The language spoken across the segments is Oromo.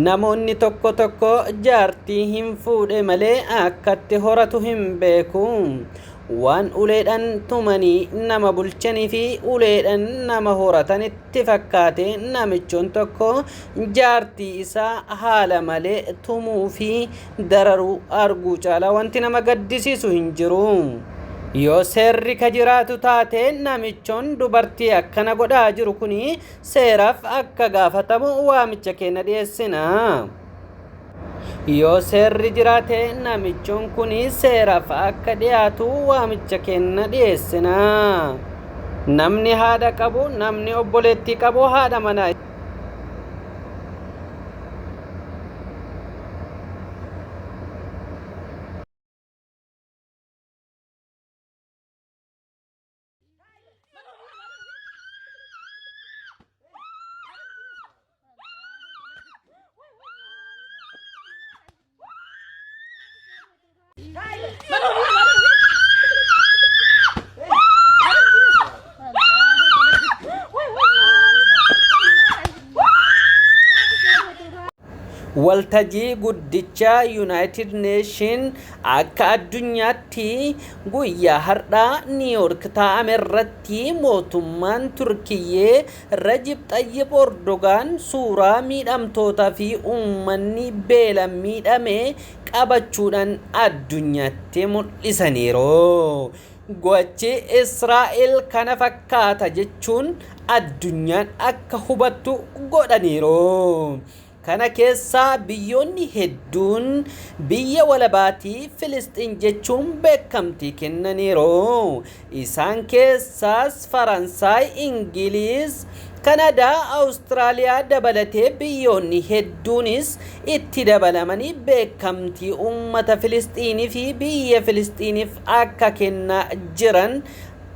Namoonni tokko tokko jaartii hin fuudhe malee akkatti horatu hin beeku. Waan uleedhan tumanii nama bulchanii fi uleedhan nama horatan itti fakkaate namichoon tokko jaartii isaa haala malee tumuu fi dararuu arguu caalaa wanti nama gaddisiisu hin jiru. Yoo seerri ka jiraatu taate namichoon dubartii akkana godhaa jiru kun seeraaf akka gaafatamu waamicha keenya dhiyeessina. Yoo seerri jiraate namichuun kun seeraaf akka dhiyaatu waamicha keenya dhiyeessina. Namni haadha qabu, namni obboleettii qabu haadha manaa Waltajii guddichaa Yuunaayitid Neeshin Akka addunyaatti guyyaa har'aa Niiyoork taa'ame irratti mootummaan Turkiyyee Rajib Xayyib Ordogaan suuraa miidhamtootaa fi uummanni beelan miidhame qabachuudhaan addunyaatti mul'isaniiru. Gochi Israa'el kana fakkaata jechuun addunyaan akka hubattu godhaniiru. Kana keessaa biyyoonni hedduun biyya walabaatii Filisxiin jechuun beekamtii kennaniiru. Isaan keessaas Faransaay, Ingiliiz, Kanadaa, Awustiraaliyaa dabalatee biyyoonni hedduunis itti dabalamanii beekamtii uummata Filisxiiniifi biyya Filisxiiniif akka kennaa jiran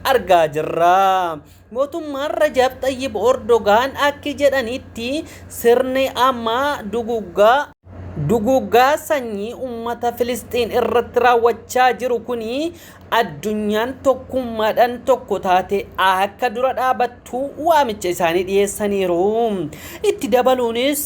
argaa jirra. Mootummaan Rajab Xayyib Ordogaan akki jedhanitti sirni amma duguggaa duguuggaa sanyii ummata Filisxiin irratti raawwachaa jiru kuni addunyaan tokkummaadhaan tokko taate akka dura dhaabattu waamicha isaanii dhiyeessaniiru. Itti dabaluunis.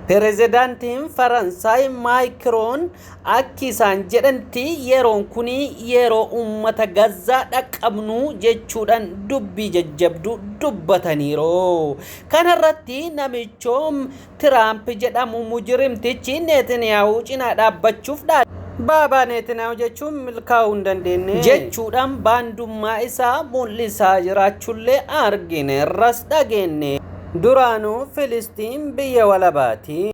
Pirezidaantiin Faransaay Maakiroon akki isaan jedhanti yeroon kun yeroo uummata Gazzaa dhaqqabnu jechuudhaan dubbii jajjabduu dubbataniiru. Kanarratti namichoo Tiraamp jedhamu mujirimtichi Neetiniyaahuu cinaa dhaabbachuuf dhaadate. Baabaa Neetiniyaahuu jechuun milkaa'uu hin dandeenye. jechuudhaan baandummaa isaa mul'isaa jiraachullee argineerras dhageenye. Duraanuu Filisxiin biyya walabaati.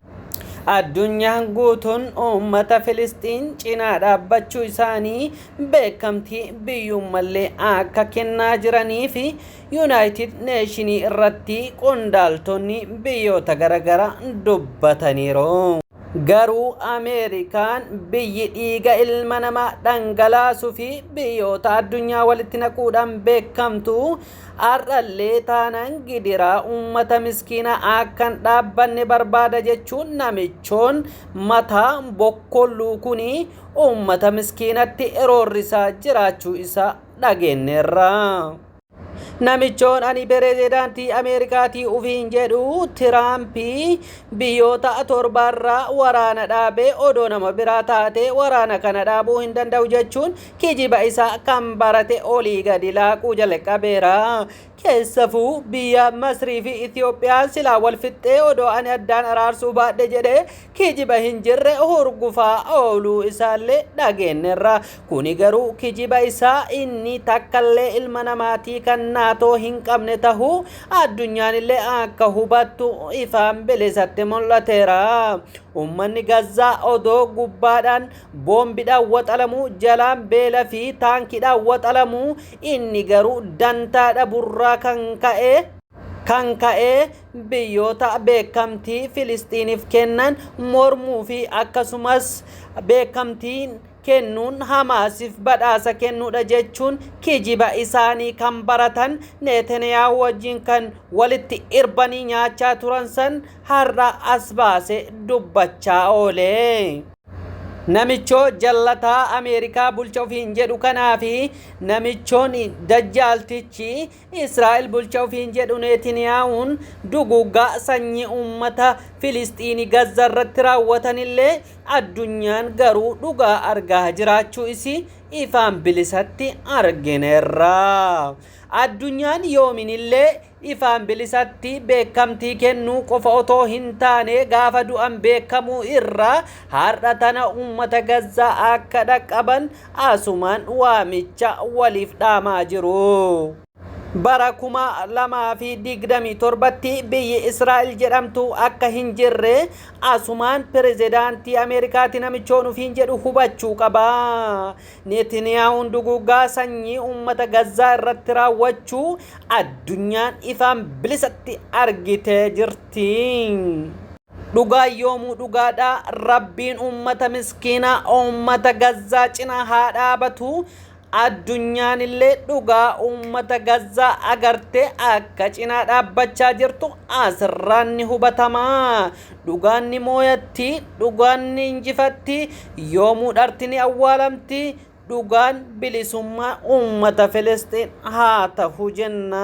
Addunyaan guutuun uummata Filisxiin cinaa dhaabbachuu isaanii beekamtii biyyuummallee akka kennaa jiranii fi Yuunaayitid Neeshinii irratti qondaaltonni biyyoota garagaraa dubbataniiru. Garuu Ameerikaan biyyi dhiiga ilma namaa dhangalaasuu fi biyyoota addunyaa walitti naquudhaan beekamtu Har'allee taanaan gidiraa uummata miskiina akkan dhaabbanne barbaada jechuun namichoon mataa bokkolluu kun uummata miskiinatti roorrisaa jiraachuu isaa dhageenneerra. Namichoon ani pirezidaantii Ameerikaatii ufiin jedhu Tiraampii biyyoota torbaarraa waraana dhaabee odoo nama biraa taatee waraana kana dhaabuu hin danda'u jechuun Kijiba isaa kan barate olii gadi laaquu jalqabeera. Keessafuu biyya Masrii fi Itoophiyaa silaa wal fixxee odoo ani addaan araarsuu baadhe jedhee kijiba hin jirre hurgufaa ooluu isaallee dhageennerra. Kuni garuu kijiba isaa inni takkallee ilma namaatii kan naatoo hin qabne tahuu addunyaanillee akka hubattu ifaan bilisatti mul'ateera. Ummanni Gazzaa odoo gubbaadhaan boombidhaan waxalamuu, jalaan beela fi taankidhaan waxalamuu, inni garuu dantaa dhaburraa kan ka'e kan ka'e biyyoota beekamtii Filisxiiniif kennan mormuu fi akkasumas beekamtii kennuun Hamaasiif badhaasa kennuudha jechuun kijiba isaanii kan baratan Neetaniyaa wajjin kan walitti irbanii nyaachaa turan san har'a as baase dubbachaa oole. Namichoo jallataa Ameerikaa bulcha ofiin jedhu kanaa fi namichoon dajjaaltichi Israa'el bulcha ofiin jedhu Neetiniyaawuun duguuggaa sanyii uummata Filisxiini Gazza irratti raawwatan illee addunyaan garuu dhugaa argaa jiraachuu isii ifaan bilisatti argineerra. Addunyaan yoomin illee ifaan bilisatti beekamtii kennuu qofa otoo hin taane gaafa du'an beekamuu irra har'a tana uummata Gazzaa akka dhaqqaban asumaan waamicha waliif dhaamaa jiru. Bara 2027tti biyyi Israa'el jedhamtu akka hin jirre asumaan pirezidaantii Ameerikaati namichoon ofiin jedhu hubachuu qaba. Neetiniyaahun duguuggaa sanyii uummata Gazzaa irratti raawwachuu addunyaan ifaan bilisatti argitee jirti. Dhugaan yoomuu dhugaadha rabbiin uummata miskiinaa uummata Gazzaa cina haa dhaabatu. Addunyaan illee dhugaa uummata Gazzaa agartee akka cinaa dhaabbachaa jirtu asirraan ni hubatamaa. Dhugaan ni mooyatti, dhugaan ni injifatti, yoomuu dharti ni awwaalamti, dhugaan bilisummaa uummata Filisxiin haa tahu jenna.